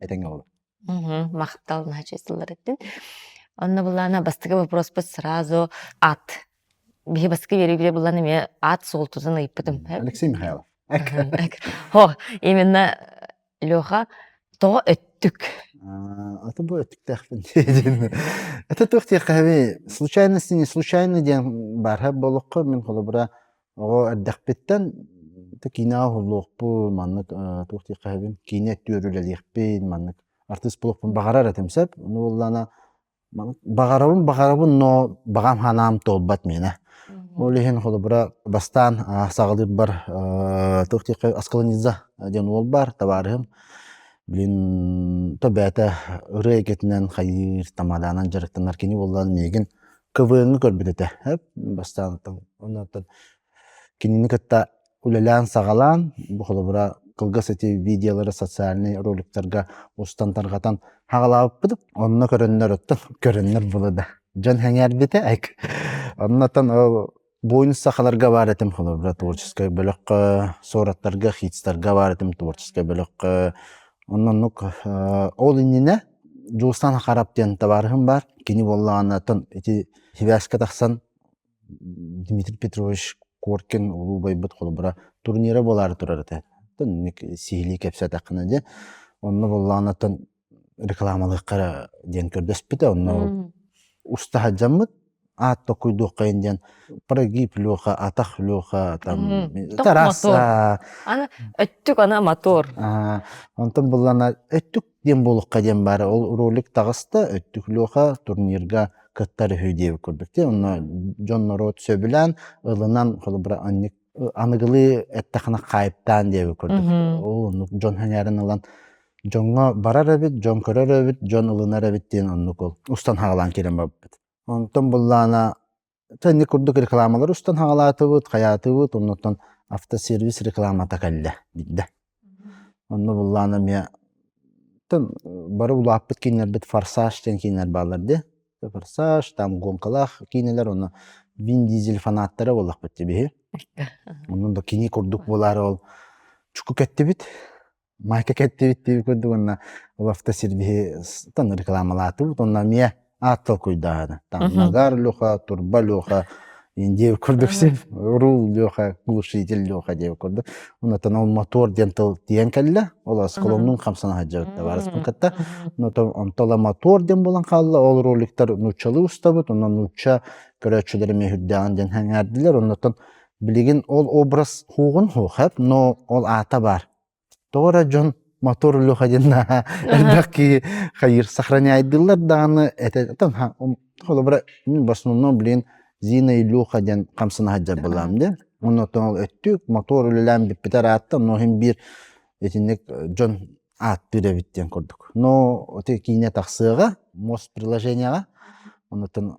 Этиҥ оҕолор. Мгм. Махтал наһаа сылларытын. Онно былаана бастакы боппуруспут сразу ат. Биһи бастакы үөрүүлэ булан эмиэ ат суолтутун ыйыппытым. Мм. Алексей Михайлов. Эк. Мгм. Эк. О, именно Леха тоҕо өттүк? Аа, аты бу өттүктээхпин диэн. Ата туох диэххэ эбий, случайность не случайно диэн баарһа буолуохха, мин холобура Оҕо эрдэхпиттэн да киинэҕэ уһуллуохпун маннык туох диэх эһэбин киинэ өттүгэр үлэлиэхпин маннык артыыс буолуохпун баҕарар этим сөп ону буоллаҕына баҕарабын баҕарабын но баҕам санаам туолбат миэнэ ол иһин холобура бастаан саҕалыырбар туох диэххэ аскаланиза диэн уол баар табаарыһым блин то бэйэтэ ырыа эйгэтинэн хайыыр тамадаанан дьарыктанар кини буоллаҕына миигин КВН-ы көрбүт этэ бастаантан. Оннуттан кинини кытта үлэлээн-саҕалаан, бу холобура кылгас эти видеолары социальнай роликтарга устан тарҕатан хаҕалаабыппыт. Онно көрөннөр оттон көрөннөр было да дьон сэҥээрбитэ оннуттан ол Буйун сахаларга бар этим холобура творческай бөлөххө, суораттарга, хитстарга бар этим творческай бөлөххө. Оннук ол иннинэ Дьулустан Хахарап диэн табаарыһым бар. Кини буоллаҕына оттон ити сибээскэ тахсан Дмитрий Петрович Коркин улуу байбыт холобура турнира буолаары турар этэ. Оттон сиһилии кэпсээтэххинэ дьэ онно буоллаҕына оттон рекламалыахха диэн көрдөспүтэ онно уста сылдьаммыт аат токуйдуоххайын диэн прогиб леха атах леха там тарас аны өттүк ана мотор онтон буллана өттүк диэн буолуохха диэн баара ол ролик таҕыста өттүк леха турнирга кыттар үһү диэбит курдук те онно дьон норуот сөбүлээн ылынан холобура анньык аныгылыы эттэххинэ хаайыптаан диэби курдук ол оннук дьон сэҥээрэн ылан дьоҥҥо барар эбит дьон көрөр эбит дьон ылынар эбит диэн оннук ол устан хаалан кэлэн барбыт онтон буллаана инник курдук рекламалар устан хаалаатыбыт хайаатыбыт оннуттан автосервис рекламата кэллэ биирдэ Онно буллаан эмиэ бары улааппыт кииннэрбит форсаж диэн кииннэр бааллар дии. Форсаж, там гонкалаах киинэлэр, ону Вин Дизель фанаттара буоллахпыт дии биһи. Онон да кини курдук буолаары ол чуку кэттибит, майка кэттибит диэбит курдук уонна ол автосервиһи ытан рекламалаатыбыт. Онно эмиэ аат толкуйдааһыны таҥнагар луха турба луха диэбит курдук син рул леха глушитель леха диэбит курдук онотон ол мотор диэн тыл тиийэн кэллэ ол осколоннун хамсан аһаджабыт барыспын кытта онотон онтола мотор диэн булан хаалла ол роликтар нууччалыы устабыт онон нуучча көрөөччүлэрим үһүрдээҕин диэн сэҥээрдилэр оннотон билигин ол образ хуоҕун хуохап но ол аата баар Тоҕо эрэ дьон мотор Леха диэн наһаа элбэх киһи хайыыр сохраняйдыыллар даҕаны этэ холобура мин в основном блин Зина Илюха диэн хамсана сылдьарбалаам диэн уонна оттон өттүк мотор үлэлээн бүппүтэ ыраатта но иһин биир итинник дьон ааттыыр эбит диэн курдук но ити киинэ тахсыаҕа мос приложениеҕа оннуктан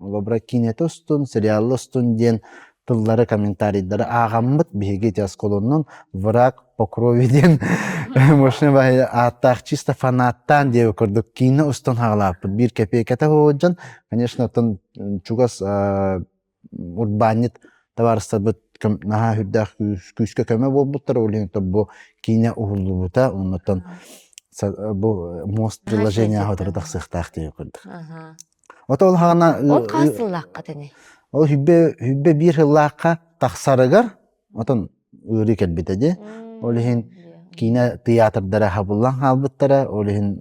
Олобро кинете устун, сериалла устун диэн тыллары, комментарийдары ааҕаммыт биһиги ити оскуоланан «Враг по крови» диэн машина баһыйа ааттаах чисто фанаттаан диэбит курдук киинэ устун хаалааппыт. Биир кэпиэкэтэ сылдьан, конечно, оттон чугас урбаанньыт табаарыстарбыт наһаа үрдээх күүскэ көмө буолбуттара, ол иһин бу киинэ уһуллубута, оннуттан бу мост приложение аһатары тахсыахтаах диэбит курдук. Ото ол хаана Ол хаас сыллааххыт ини? ол сүбэ сүбэ биир сыллаахха тахсарыгар отон ыарыы кэлбитэ дии. Ол иһин киинэ тыйаатырдара хабыллан хаалбыттара, ол иһин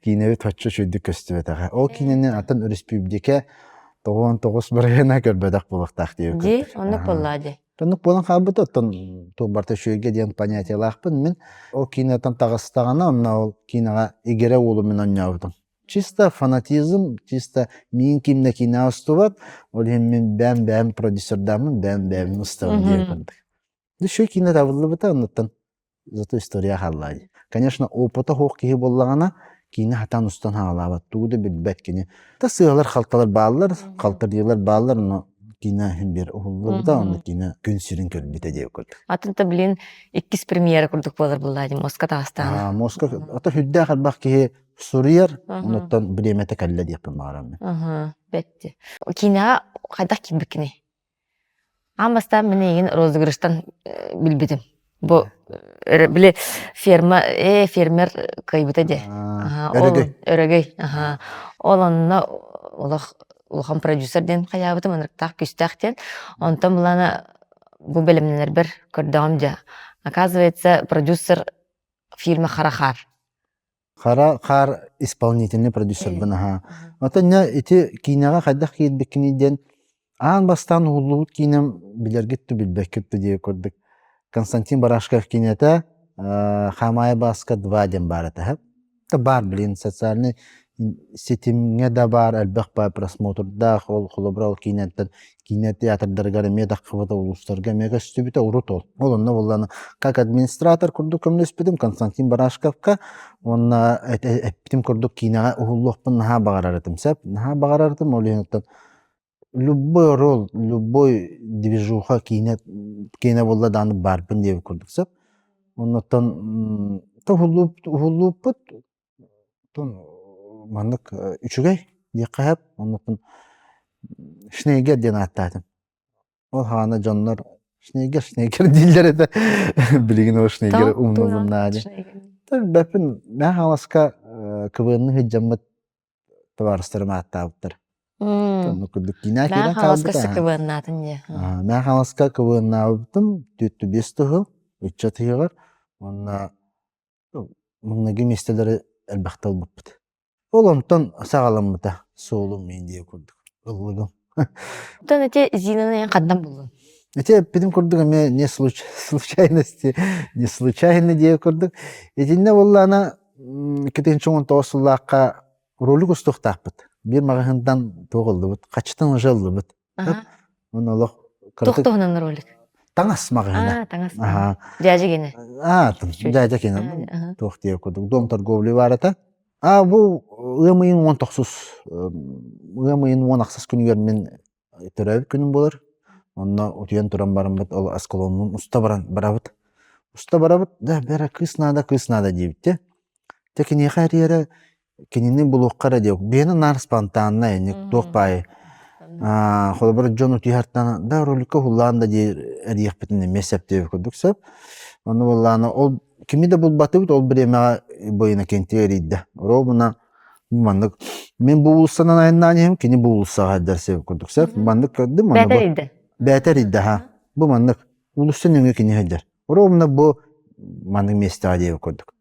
киинэбит оччо үчүгэйдик көстүбэтэҕэ. Ол киинэни атын өрөспүүбүлүкэ тоҕуон тоҕус бырайыана көрбөтөх буолуохтаах диэбит Дии, курдук. оннук Аһа. буоллаа дии. Оннук буолан хаалбыта, оттон туох барыта үчүгэйгэ диэн понятиелаахпын. Мин ол киинэттэн таҕыстаҕына, онно ол киинэҕэ игирэ уолу мин оонньообутум. чисто фанатизм чисто мин ким да кино устубат ол иһин мин бэйэм бэйэм продюсердааммын бэйэм бэйэм устабын диир курдук еще кино табыллыбыта оннуттан зато история хааллаай конечно опыта суох киһи буоллаҕына киинэ хатан устан хаалаабат тугу да билбэт кини та сыалар халталар бааллар халтардыылар бааллар но кино иһин бир уһуллубута онно кино күн сирин көрбүтэ диye курдук атынта блин иккис премьера курдук буолар буллаа дим моска таастаана моска ото хүддээх арбах киһи Суруйар, Мгм. онуттан бириэмэтэ кэллэ диэхпин баҕарам мин. Мгм. Бэттэ. Киинэҕэ хайдах киирбиккиний? Аан бастаан мин эйигин розыгрыштан э, билбитим. Бу Э, э, били ферма, э, фермер кыайбыта диэ. а, Аһа, ол өрөгөй. өрөгөй. Аһа. А, Ол онно олох улахан продюсер диэн хайаабытым, ынырыктаах күүстээх диэн. Онтон былаана бу бэлэмнэнэрбэр көрдөҕүм дьэ. Оказывается, продюсер фирма Харахаар. Хара хаар исполнительнай продюсербын аһаа. Оттонньо ити киинэҕэ хайдах киирбиккиний диэн аан бастаан уһуллубут киинэм билэргит да билбэккит да диэки курдук Константин Барашков киинэтэ э Хамаайа Бааска два диэн баар этэ. Да баар блин социальнай ситимҥэ да баар элбэх баар просмотрдаах ол холобура ол киинэттэн кинотеатрдарыгар эмиэ таххыбыта улуустарга эмиэ көстүбүтэ урут ол ол онно буоллаҕына как администратор курдук көмөлөспүтүм константин барашковка уонна эппитим курдук киинэҕэ уһуллуохпун наһаа баҕарар этим сөп наһаа баҕарар этим ол иһин оттон любой ролл любой движуха киинэ киэнэ буолла даҕаны баарбын диэбит курдук сөп оннуттан уһуллууппут Тун маннык үчүгэй диэххэһэп оннуттан Шнейгер диэн ааттаатым. Ол хаана дьоннор Шнейгер Шнейгер дииллэр этэ билигин ол Шнейгер умнулуннаадьы Бэппин наһаа хаҥаласка кыбыынны сыддьаммыт табаарыстарым ааттаабыттар. Оннук курдук киинэ киирэн хаалбыта. Мэ хаҥаласка кыбыыннаабыппытым түөртү биэс тыһыл ыччат ыһыаҕар уонна Маҥнайгы миэстэлэри элбэхтэ ылбыппыт. Ол онтон саҕаламмыта суолум индия курдук ыллыгым. Оттон ити Зинаны эн хандан буллуҥ? Ити эппитим курдук эмиэ не случайности не случайно диэ курдук. Итиннэ буоллаана икки тыһыынча он тоҕус сыллаахха ролик устуохтаахпыт. Биир маҕаһыынтан туох ыллыбыт, хачытан уже ыллыбыт. Аха. Уонна олох Туох туһунан ролик? Таҥас маҕаһыына. Аа, таҥас. Аһаа. Дядя кинэ. Аа, дядя кинэ. Туох диир курдук. Дом торговли баарата. Аа, бу ыам ыйын уон тохсус ыам ыйын уон ахсыс күнүгэр мин төрөөбүт күнүм болар. Онно утуйан туран бараммыт ол осколоммун уста баран барабыт. Уста барабыт да бэрэ кыыс наада кыыс наада диэбиттэ. Дьэ киниэхэ эрийэрэ кинини булуохха эрэ диэк бэйэни наар спонтаннай ини туох баай холобур дьон утуйаартан да роликка уһуллаан да дии эрийэхпитин эмиэ сөп диэбит курдук сөп ону буоллаана ол кими да булбатыбыт ол бириэмэҕэ бу Иннокентий эрийдэ оруобуна маннык мин бу уулуссанан айаннаан иһим кини бу уулуссаҕа эрдэр сeb курдук сөп маннык көрдүм бээтэ эрийдэ бээтэ эрийдэ ха бу маннык уулусса нөҥүө кини сылдьар оруобуна бу маннык миэстэҕэ диэбит курдук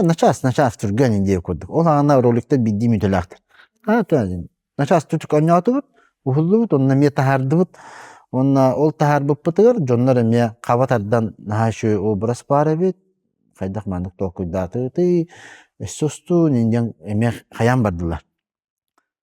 начаас начаас түргэн идея курдук ол аана роликтар биирдии мүтөлээхтэр начаас тутук оонньоотубут уһуллубут онно эмиэ таһаардыбыт уонна ол таһаарбыппытыгар дьоннор эмиэ хаба тардан наһаа үчүгэй образ баар эбит хайдах маннык толкуйдаатытый өссө устуу диэн эмиэ хайаан бардылар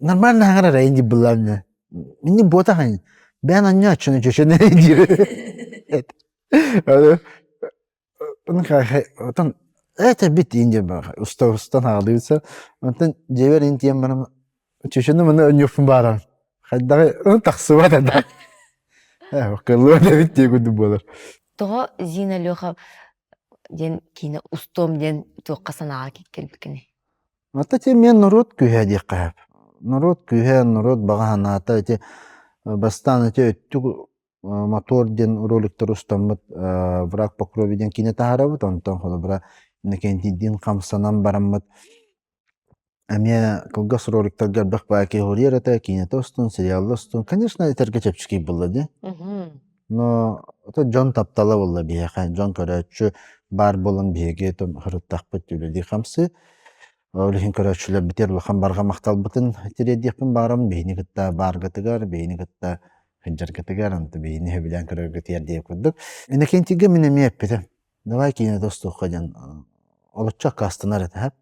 нормально хаҥырар эйин дьыбыллаан мини буота хань бээн анньооччуну чөчөн эрэй диир оттон это бит инде уста устан хаалыыса онтон дьиэбэр интиэн барам чөчөнү маны өнньүппүн баарам хайдаҕы он тахсыбат да кыллыбат эбит дии курдук буолар тоҕо зина леха диэн киинэ устуом диэн туохха санааҕа кииркэн пикини Ата ити эмиэ норуот күүһэ диэххэ сөп. Норуот күүһэ, норуот баҕа санаата ити бастаан ити өттүк мотор диэн роликтары устаммыт враг по крови диэн киинэ таһаарабыт. Онтон холобура Иннокентийдиин хамсанан бараммыт эмиэ кылгас роликтарга элбэх баай киһи уруйар этэ. Киинэтэ устун, сериалла устун. Конечно, этэргэ чэпчэки буолла дии. Мгм. Но дьон таптала буолла биһиэхэ, дьон көрөөччү баар буолан биһиги сырыттахпыт үлэлии хамсыы. Ол иһин көрөөччүлэр бүтэр улахан барҕа махталбытын тириэрдиэхпин баарым. Биһини кытта бааргытыгар, биһини кытта сылдьаргытыгар, онтон биһини сөбүлээн көрөргүт тиэрдиэх курдук. Иннокентийгэ мин эмиэ эппитим: Давай кинота устуохха диэн олуччу аккаастанар этэ.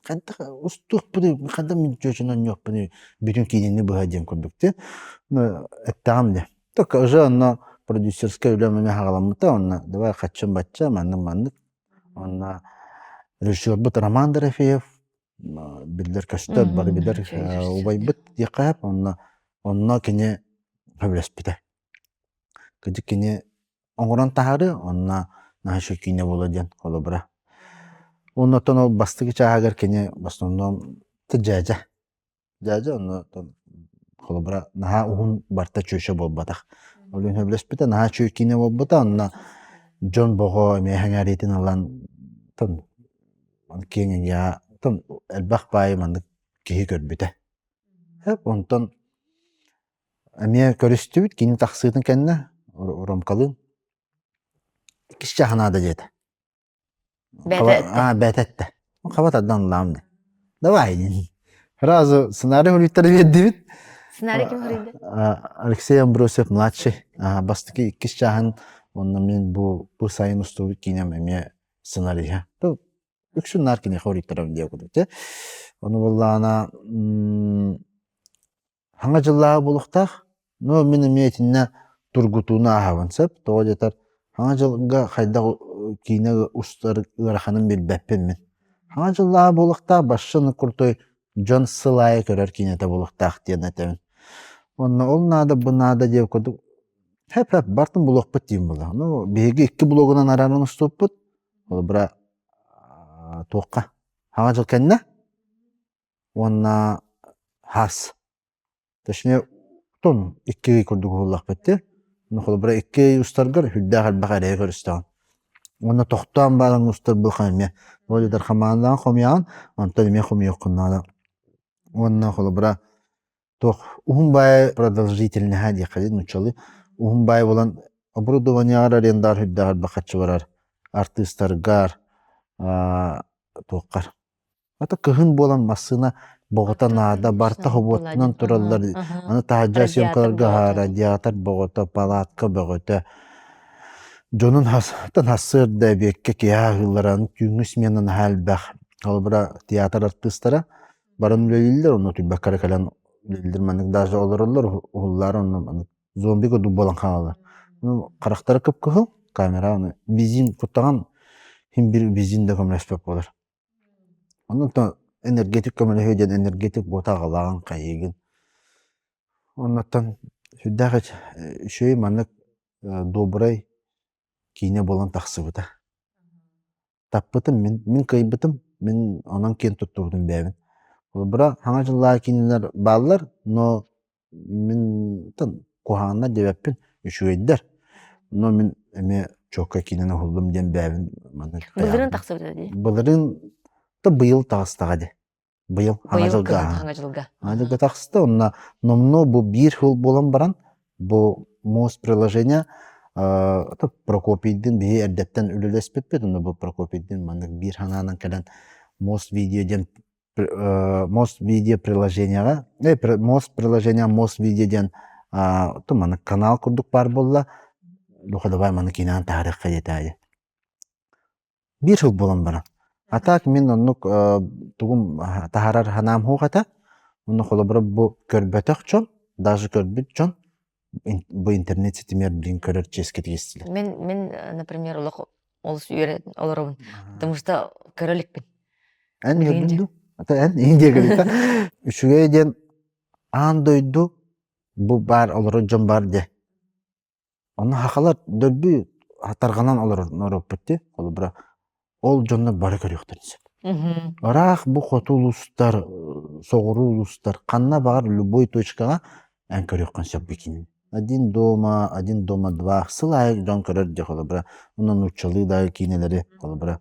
Хантах устуохпунуй, хантан мин чүөчүн оонньуохпунуй бүтүн киинэни быһа диэн курдуктуу эттэҕим дии. Только уже онно продюсерскай үлэм эмиэ саҕаламмыта онно давай хаччым бачча маннык маннык онно режиссербут Роман Дорофеев биллэр көстөр бары билэр убайбыт диэххэ сөп онно онно кини сөбүлэспитэ. Кырдьык кини оҥорон таһары онно наша киинэ буолуо диэн холобура. Уонна оттон ол бастакы чааһыгар кини в основном ты дьээдьэ. Дьээдьэ онно оттон холобура наһаа уһун барыта чүөчэ буолбатах. Ол иһин сөбүлэспитэ наһаа үчүгэй киинэ буолбута онно дьон бөҕө эмээхэ эҥээриитин ылан оттон киэҥ эйэҕэ оттон элбэх баайы маннык киһи көрбүтэ. Онтон эмиэ көрүстүбүт кини тахсыытын кэннэ Ромкалыын иккис чааһа наада диэтэ бэт этэ хаба тардан ыллаам дии давай сразу сценарий суруйтары биэрдибит сценарий ким суруйда алексей амбросьев младший бастакы иккис чааһын уонна мин бу бу сайын устубут киинэм эмиэ сценарийа үксүн наар киниэхэ уруйтара диэ курдук ону буоллаҕына Хаҥа дьыллааҕы булуохтаах. Ну, мин эмиэ итиннэ тургутууну ааһабын сөп. Тоҕо диэтэр, Хаҥа дьылга хайдах киинэ устар ыараханын билбэппин мин. Хаҥа дьыллааҕы буолуохтаах Башин Крутой дьон сыл аайы көрөр киинэтэ буолуохтаах диэн этэбин. Уонна ол наада, бу наада диэн курдук хэп-хэп бартын булуохпут диэн буолла. Ну, биһиги икки блогунан арааран уступпут. Холобура, туохха? Хаҥа дьыл кэннэ? уонна хас. Точнее, тон икки курдук буоллахпыт но холобура икки устаргар үрдээх элбэх эрэйи көрүстэҕин уонна тохтоон баалан устар буха эмиэ ол дьатар хамаандаҕын хомуйаҕын онтон эмиэ хомуйуоххун наада уонна холобура туох уһун баайы продолжительноһа диэххэ нуччалыы уһун баай булан оборудованиегар арендар үрдэҕэр бахаччы барар артыыстаргар туоххар ата кыһын буолан массыына боҕото наада барта хобуоттунан тураллар аны таһырдьа съемкаларга аһаара диатр боҕото палатка бөҕөтө дьонун хастан хассыарда эбиэккэ киһи аһыыллара аны түүҥҥү смена наһаа элбэх холобура театр артыыстара баран үлэлииллэр онно утуйбакка кэлэн үлэлииллэр маннык даже олороллор уһуллаары онно маннык зомби курдук буолан хаалаллар харахтара кып-кыһыл камера аны бензин куттаҕан иһин биир бензин да көмөлөспөт буолар оннуттан энергетик көмөлөһүө диэн энергетик буота аҕалаҕын хайыгын оннуттан сүрдээх үчүгэй маннык э, добрай киинэ буолан тахсыбыта Таппытым, мин, мин кыайбытым, мин онон киэн туттубутум бэйэбин. Холобура, хаҥа дьыллааҕы киинэлэр бааллар, но мин тан куһаҕаннар диэбэппин, үчүгэйдэр. Но мин эмиэ чуокка киинэни уһуллум диэн бэйэбин маннык таһаарбытым. Былырыын тахсыбыта дии. Былырыын да быйыл таҕыстаҕа дии. Быйыл Аҥа Быйыл дьылга. кыһын Аҥа дьылга. Аҥа дьылга тахсты онно номнуо бу биир хыл буолан баран бу муос приложение э, Прокопийдыын биһи эрдэттэн үлэлэспиппит онно бу Прокопийдыын маннык биир санаанан кэлэн муос видео диэн э, муос видео приложенияҕа э, муос приложение муос видео диэн ту маннык канал курдук баар буолла духа давай маны кинээн таһарыахха диэтээйи Биир сыл буолан баран. А так мин оннук э, тугум э, таһарар ханаам хуох этэ. Онно холобура бу көрбөтөх дьон, даже көрбүт дьон бу интернет ситимигэр билигин көрөр чиэскитик истилэр. Мен, мен, э, например, олох олус үөрэн олоробун, потому что көрө иликпин. Эн көрдүн ду? Ата эн ийин диэгилита. Үчүгэй диэн аан дойду бу баар олорор дьон бар дьэ. Онно сахалар дөрби тарҕанан олорор норуоппут дии холобура ол дьонно бары көрүөхтэрин сөп. Мхм. Ыраах бу хоту улустар, соҕуруу улустар ханна баҕар любой точкаҕа эн көрүөххүн сөп итинин. Один дома, один дома два сыл аайы дьон көрөр дьэ холобура онно нууччалыы дагы киинэлэри холобура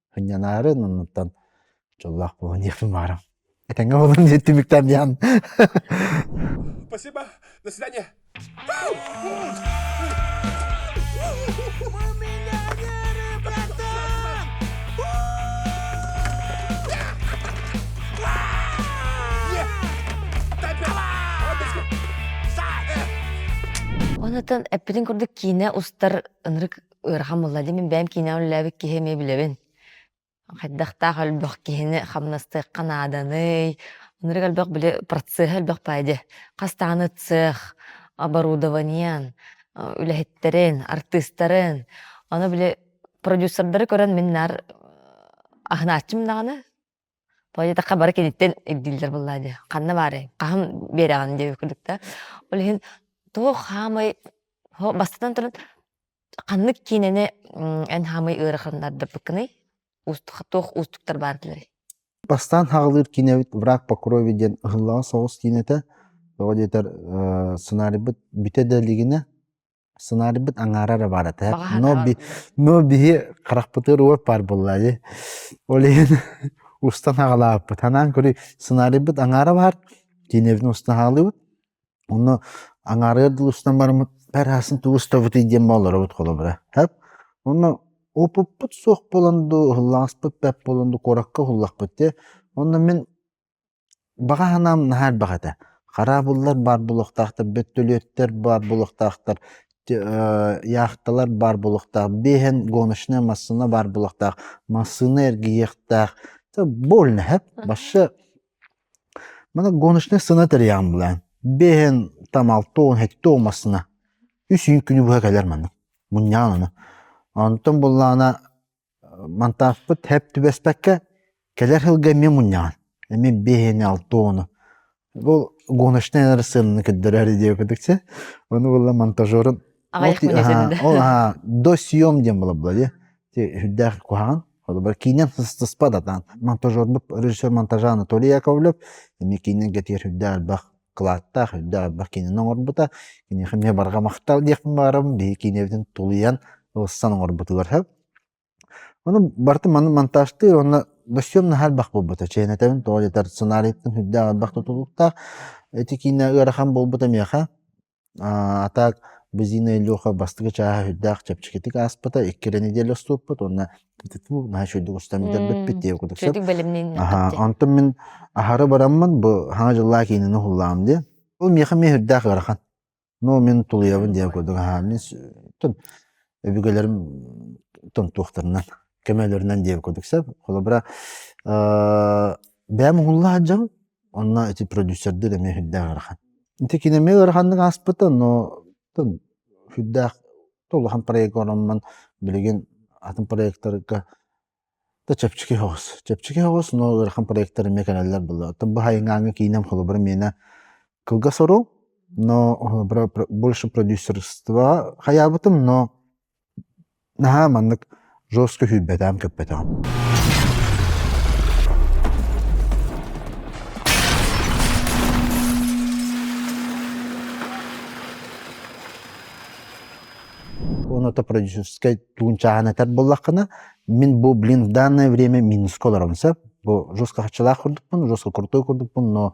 Хыньанаары наннаттан дьоллоох буолан иэхпин баарам. Этэҥҥэ буолан диэт түмүктэн диэн. Спасибо. До свидания. Онутан эппитин курдук киинэ устар ынырык ыарахан буолла дии мин бэйэм киинэҕэ үлэлээбит киһи эмиэ билэбин хайдахтаах элбэх киһини хамнастыахха нааданый ынырык элбэх били процеһа элбэх баара дии хас даҕаны цех оборудованиен үлэһиттэрин артыыстарын аны били продюсердары көрөн мин наар аһынааччым даҕаны Тоҕо диэтэххэ бары киниттэн ирдииллэр буоллаҕа дии. Ханна баарай, хаһан биэрэҕин диэбит курдук да. Ол иһин туох хаамай оһо бастатан туран ханнык киинэни эн хаамай ыараханнардарбыккыный? Уустук туох уустуктар баардыларый? Бастаан хааҕылыыр киинэбит «Враг по крови» диэн ыһыллаҕан соҕус киинэ этэ. Тоҕо диэтэр сценарийбыт бүтэ да илигинэ сценарийбыт аҥаара эрэ баара но биһи харахпытыгар уот баар буолла дии ол иһин устан аҕалаабыппыт санаан көрүүй сценарийбыт аҥаара баар киинэбитин устан аҕалыыбыт онно аҥаарыгар дылы устан бараммыт бэр аһасын тугу устабытый диэн олоробут холобура онно опыппыт суох буолан дуу уһуллаҕаспыт бэрт буолан дуу куоракка уһуллахпыт дии онно мин Баҕа санаам наһаа элбэх этэ. Хараабыллар баар буолуохтаахтар, бөттөлүөттэр баар буолуохтаахтар, яхталар баар буолуохтаах, биэһэн гоночная массыына баар буолуохтаах, массыына эргийиэхтээх. Больно эһэ, вообще мана гоночнай сына тэрийэҕин билээн. Биэһэн там алта-он, сэттэ он массыына үс үүт күнү быһа кэлэр маннык. Мунньаан аны. Онтон буоллаҕына Монтажпыт эп түбэспэккэ кэлэр сылга эмиэ мунньаҕын. Эмиэ биэс уон алта уону бу гоночнай ырысыананы көрдөрөөрү диэн кытыкча ону буолла монтажерун Аҕыйах мин өтөрү да. ол аһа до съем диэн буолар була дии ти үрдээх куһаҕан холобур киинэн сыстыспат атаан монтажербут режиссер монтажа Анатолий Яковлев эмиэ киинэн кэтиэр үрдээх элбэх кылааттаах үрдээх элбэх киинэни оҥорбута. Киниэхэ эмиэ барҕа махтал диэхпин баҕарабын. Биһи киинэбитин тулуйан, ылсан оҥорбутугар сөп. Ону барыта маны монтажтыыр уонна бөссүөм наһаа элбэх буолбута. Чээн этэбин тоҕо диэтэр сценарийыттан үрдээх элбэх тутулуктаах. Ити киинэ ыарахан буолбута миэхэ. А так Базина Илюха бастакы чааһа сүрдээх чэпчэкитик ааспыта, икки эрэ неделя уступпут уонна наһаа үчүгэй оҥостон бүтэрбиппит диэбит курдук сөп. Чөтүк бэлэмнэннэххит дии. Онтон мин аһары бараммын бу Саҥа дьыллаа киинэни уһуллаҕым дии. Ол миэхэ эмиэ сүрдээх ыарахан. Ну мин тулуйабын диэбит курдук аһаа мин өбүгэлэрим тонтуохтарынан, көмөлөрүнэн диэбит курдук сөп. Холобура бэйэм уһулла сылдьабын, Онно ити продюсердэр эмиэ сүрдээх ыарахан. Ити кини эмиэ ыараханнык ааспыта, но сүрдээх улахан проекка ороммон билигин атын проектарга да чэпчэки соҕус. Чэпчэки соҕус, но ыарахан проектар эмиэ кэлэллэр буоллар. Оттон бу хайыҥааҥҥа киинэм холобура миэнэ кылгас оруу, но больше продюсерства хайаабытым, но Наһаа маннык жестко сүүрбэтэҕим көппөтөҕүм Уонна то продюсерскай тугун чааһын этэр буоллаххына мин бу блин в данное время минуска олоробун сөп бу жестко харчылаах курдукпун жестко крутой курдукпун но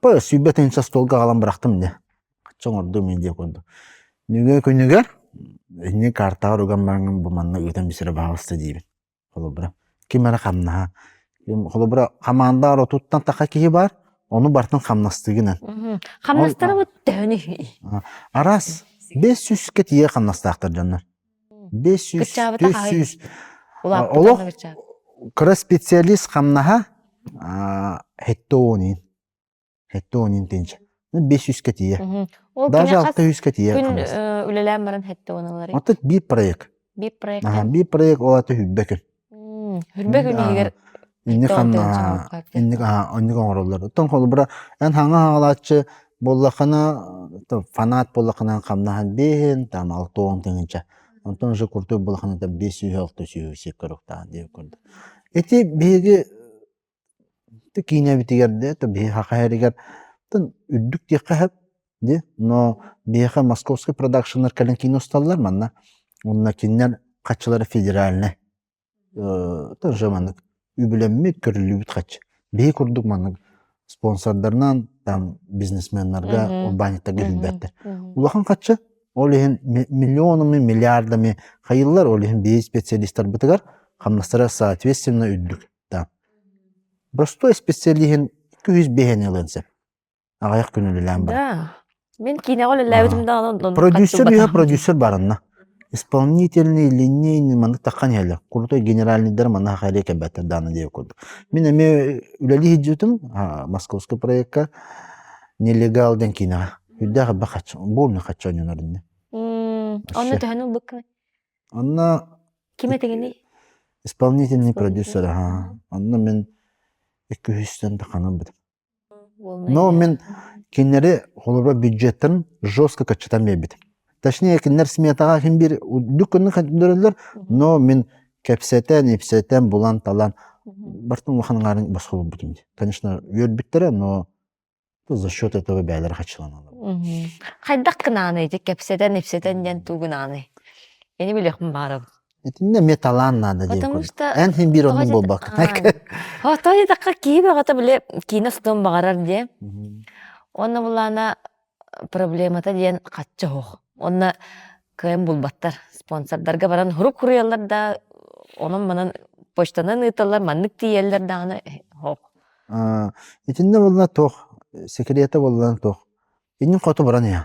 Па сүүрбэтин үс остуолга аҕалан бырахтым дэ. Чэ оҥордум ин диэк курдук. Нүгэ күнүгэр ини картаҕар уган бараҥҥын бу манна ыытан бисэрэ баҕаласта диибин. Холобура ким эрэ хамнаһа. Холобура хамаандаҕар отуттан таха киһи баар, ону барытын хамнастыыгынан. Мм. Хамнастарыбыт төһөнү? Араас бэс сүүскэ тиийэ хамнастаахтар дьоннор. бес жүз түс сүүс олох кыра специалист хамнаһа сэттэ уон иин сэттэ уон иин тыынча бес жүзкэ тиийэ даже алта жүзкэ тиийэ үлэлээн баран сэттэ уон ылар оттон биир проект биир проект биир проект ол аата түһүрбэ күн Үрбэ күнүгэр Инник ан инник оннук оҥороллор. Оттон холобура эн хаҥа хаалааччы буоллаххына фанат буоллаххына хамнаһан биэһин там алта уон тыһыынча онтон уже куртук буоллаххына там биэс сүүс алта сүүс сиккэ орохтаах диир курдук. Ити биһиги Дьэ киинэбитигэр дьэ то биһи ХХ-ригэр тын үрдүк диэххэ сөп дии но биһиэхэ московскай продакшннар кэлэн кино усталлар манна уонна кинилэр хаччылара федеральнай тоже маннык үбүлэммит көрүллүбүт хаччы биһи курдук маннык спонсордарынан там бизнесменнарга урбаанньыттарга иһилбэттэр улахан хаччы ол иһин миллионами миллиардами хайыллар ол иһин биһи специалистарбытыгар хамнастара соответственно үрдүк Да. Простой исписэлииһин икки үһүс биэһэни ылыан сөп. Аҕыйах күн үлэлээн баран. Да. Мин киинэҕэ үлэлээбитим да онон Продюсер үһэ продюсер баранна. Исполнительный, линейный, маны таххан иһэлэр. Крутой генеральныйдар мана хайре кэбэтэ даана диye курдук. Мин эме үлэлии хиждетим московский проектка нелегал ден киинэҕэ. Үрдээх абба хач, болный хачча оннорунна. Онно төһөнү быккын? Онно Ким этиҥиний? исполнительный продюсер аха. Онно мин икки үһүстэн да ханабыт. Но мин кинилэри холобура бюджеттарын жестко каччатан биэрбитим. Точнее, кинилэр сметаҕа хин биир үрдүк көннү көрдөрөллөр, но мин кэпсэтэн, ипсэтэн, булан-талан бартын улахан ыңаарын босхолбутум. Конечно, үөрбүттэрэ, но За счет этого бэйэлэрэ хаччыланаллар. Хайдах гынааны ити кэпсэтэн, ипсэтэн диэн тугунааны? Ини билиэхпин баарым. Итиннэ эмиэ талаан наада диэн курдук. Эн син биир оннун буолбаккын. Отой атахха киһи бөҕөтө били киинэ устуон баҕарар диэ. Онно булаана проблемата диэн хачча оһох. Онно кыайан булбаттар. Спонсордарга баран сурук суруйаллар да, онон-манан почтанан ыыталлар, маннык тиийэллэр даҕаны, оһох. итиннэ буолла туох секрета буоллан туох иннин хоту баран иһэн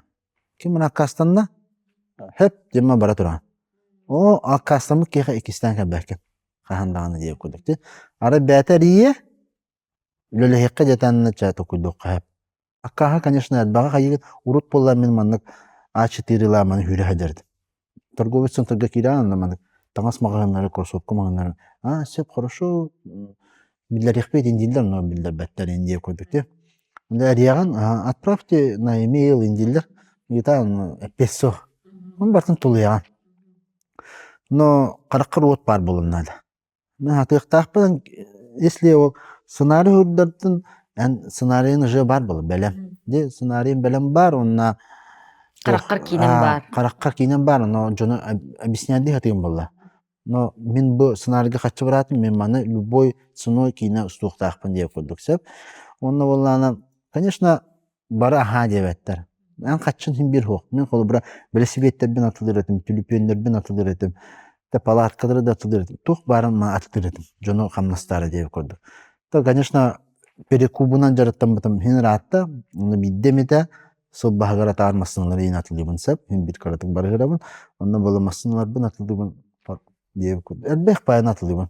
ким аккаастанна хөп дьима бара туран оо аккаастаммыт киэхэ иккистээн кэлбэккин хаһан даҕаны диир курдук ти арай бээтэ эрийэ үлэлэһиэххэ дьэ тонна чэ токуйдуохха Аккааһы, конечно, элбэҕи хайыыгыт, урут буоллар мин маннык А4-лааманы сүүрэ садерт. Торговый центрга киирэн анна маннык таҥас маҕаһыыннары, кроссовка маҕаһыыннарын аа сөп хорошо биллэриэхпит индиллер но биллэрбэттэр индия курдук Де ариаҕын отправьте на email индиллер итаан песо он бартын тулуйаҕын но хараххар уот баар булуннаада Аһатыахтаахпын если сценарий уурдартын эн сценарийын уже бар был бэлэм ди сценарийым бэлэм баар уонна хараххар киинэн баар хараххар киинэн баар но дьону объяснять дии сатыым буолла но мин бу сценарийга харчы быраатым мин маны любой ценой киинэ устуохтаахпын диэн курдук сөп уонна буоллаҕына конечно бары аһаа диэбэттэр эн хаччын син биир суох мин холобура бэлэсибиэттэрбин атылыр этим түлүпүөннэрбин атылыр этим да палаткалары да атылыр этим туох баарын маа атытыр этим дьону хамнастаара диэбит курдук то конечно перекубунан дьарыктаммытым син ыраатта ону биирдэ эмитэ сылбаһыгар атаар массыыналары иин атылыыбын сөп син биир кыратык барыгырабын онно буола массыыналарбын атылыыбын диэбит курдук элбэх байан атылыыбын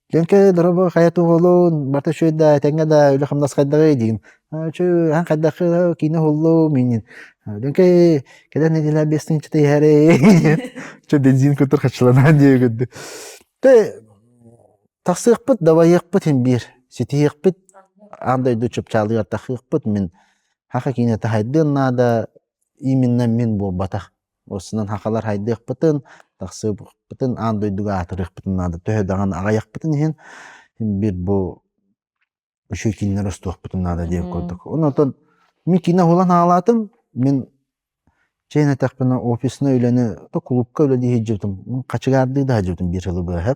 Леонкей, доробо, хайа туһулуун, барта үчүгэй да, тэҥҥэ да, үлэ-хамнас хайдаҕый диим. Чү, эн хайдахха киинэ уһуллуум инин. Леонкей, кэлэн нэдиэлэ биэстин чыта иһэри. Чө бензин көтөр хаччыланан диэ үгүрдү. Тэ, тахсыахпыт, дабайыахпыт ин биир. Ситиһиэхпит, аан дойду чупчаалыгар тахыахпыт мин. Хаха киинэ тахайдыан наада, именно мин буолбатах. Осунан хакалар хайдыахпытын, тахсыппытын, аан дойдуга аатырыахпытын наада. Төһө даҕаны аҕайахпытын иһин, бир бу үчүгэй кинилэр устуохпутун наада диэн курдук. Онотон мин кино уһулан хаалаатым, мин чэйин этэхпинэ офиснай үлэни, то кулуупка үлэ дии сылдьыбытым. Хачыгаардыы да сылдьыбытым биир сылы быһа.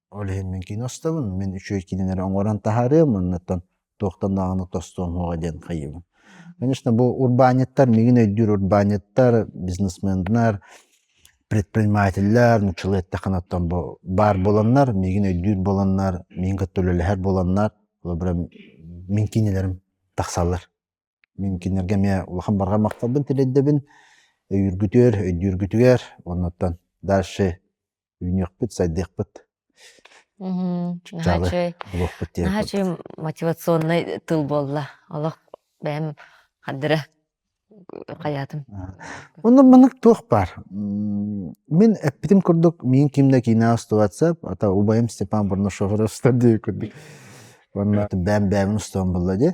Ол иһин мин кино устабын, мин үчүгэй кинини эрэ оҥорон таһаарыам, оннуттан туохтанааҕыны тостуом суоҕа диэн хайыыбын. Конечно, бу урбаанньыттар, миигин өйдүүр урбаанньыттар, бизнесменнэр, предпринимателлэр, нууччалыы эттэххинэттэн бу баар буоланнар, миигин өйдүүр буоланнар, миигин кытта үлэлэһэр буоланнар, холобура, мин кинилэрим тахсаллар. Мин кинилэргэ эмиэ улахан барҕа махталбын тириэрдэбин өйүүргүтүгэр, өйдүүргүтүгэр уонуттан дальше үүнүөхпүт, сайдыахпыт. Мм наһаа үчүгэй наһаа үчүгэй мотивационнай тыл буолла олох бэйэм хардыра хайаатым онно маннык туох баар мин эппитим курдук миин ким да киинэҕэ устубатсап ата убайым Степан Барнашов устар дии курдук уонна бэйэм бэйэбин устубам буолла дии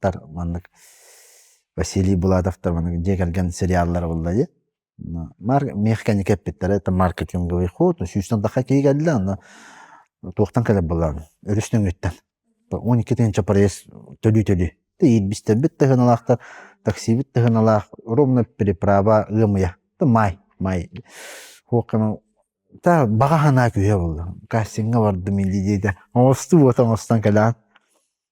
Тар маннык Василий Булатовтар маннык дьиэ кэргэн сериаллара булла дии. Маар миэхэ кэнники эппиттэрэ это маркетинговый ход сүүстэн даха киһи кэллэ аны туохтан кэлэр былаан өрүс нөҥүттэн он икки тыһыынча проезд төлүү-төлүү иирбистербит тыһыналаахтар таксибит тыһыналаах ровно переправа ыамыйа май май та баҕа санаа күһэ буолла кассиҥҥа бардым илии диэтэ оҥосту буота оҥостон кэлээн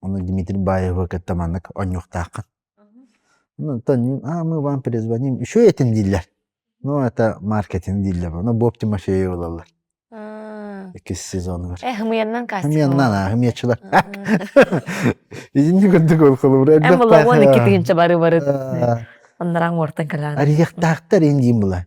Ону Дмитрий Баеву кытта маннык онньуктааххын. Оттон а мы вам перезвоним еще этим дииллэр. Ну это маркетинг дииллэр. Ону Боб Тимофеев ылаллар. иккис сезонугар. Э хымыйаннан каастык. Хымыйаннан аа хымыйачылар. Итинни курдук ол холобура элбэх баах. Эм улаан икки тыгынча бары бары. Аннараа уортан калаан. Арияктаахтар ин диин була.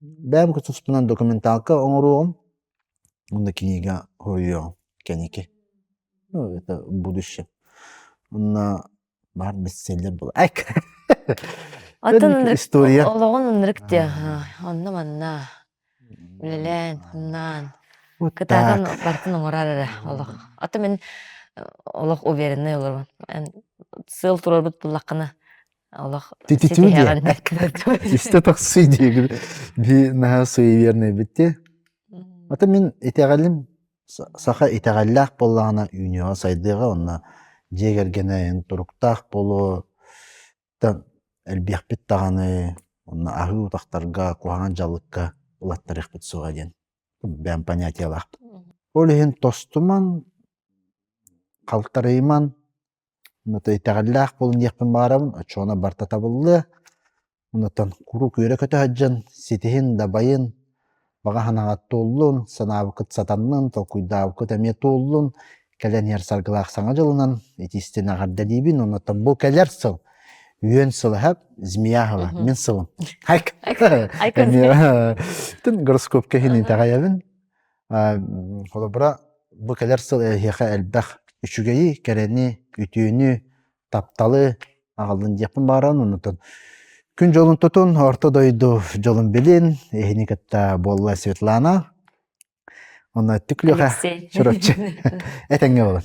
бэйэм тустуунан документалка оҥоруоҕум уонна кинигэ суруйуоҕум кэники ну это будущее уонна баар бестселлер история олоҕун ынырык диэ онно манна үлэлээн хамнаан кытаатан бартын оҥорор эрэ олох ата мин олох увереннай олорбун сыал туруорбут буллаххына олох истэ тахсыы диэги би наһаа суеверный битти ата мин итэҕэлим саха итэҕэллээх буоллаҕына үүнүөҕэ сайдыаҕа онно дьиэ кэргэнэйин туруктаах буолуо элбиэхпит даҕаны онно аһыы утахтарга куһаҕан дьалыкка ылаттарыахпыт суоҕа диэн бэйэм понятиялаахпын ол иһин тостуман халтарыйман Ону итэҕэллээх булунуохпун баҕарабын, оччоҕуна барыта табыллыа. Онтон куруук үөрэ көтө сылдьан, ситиһин, дабайын, баҕа санааҕыт туоллун, санаабыккыт сатаннын, толкуйдаабыккыт эмиэ туоллун. Кэлэн иһэр саргылаах Саҥа дьылынан итии ситин аҕарда диибин. Онтон бу кэлэр сыл үөн сыл эһэ, змея сыла, мин сылым. Айк. Айк. Эмиэ гороскопка иһин итэҕэйэбин. холобура бу кэлэр сыл эһиэхэ элбэх үчүгэйи кэрэни үтүөнү тапталы аҕаллын диэхпин баҕарарын оннуттан күн дьолун тутун орто дойду дьолун билин иһини кытта буолла светлана онно түклюха чурапчы этэҥҥэ буолан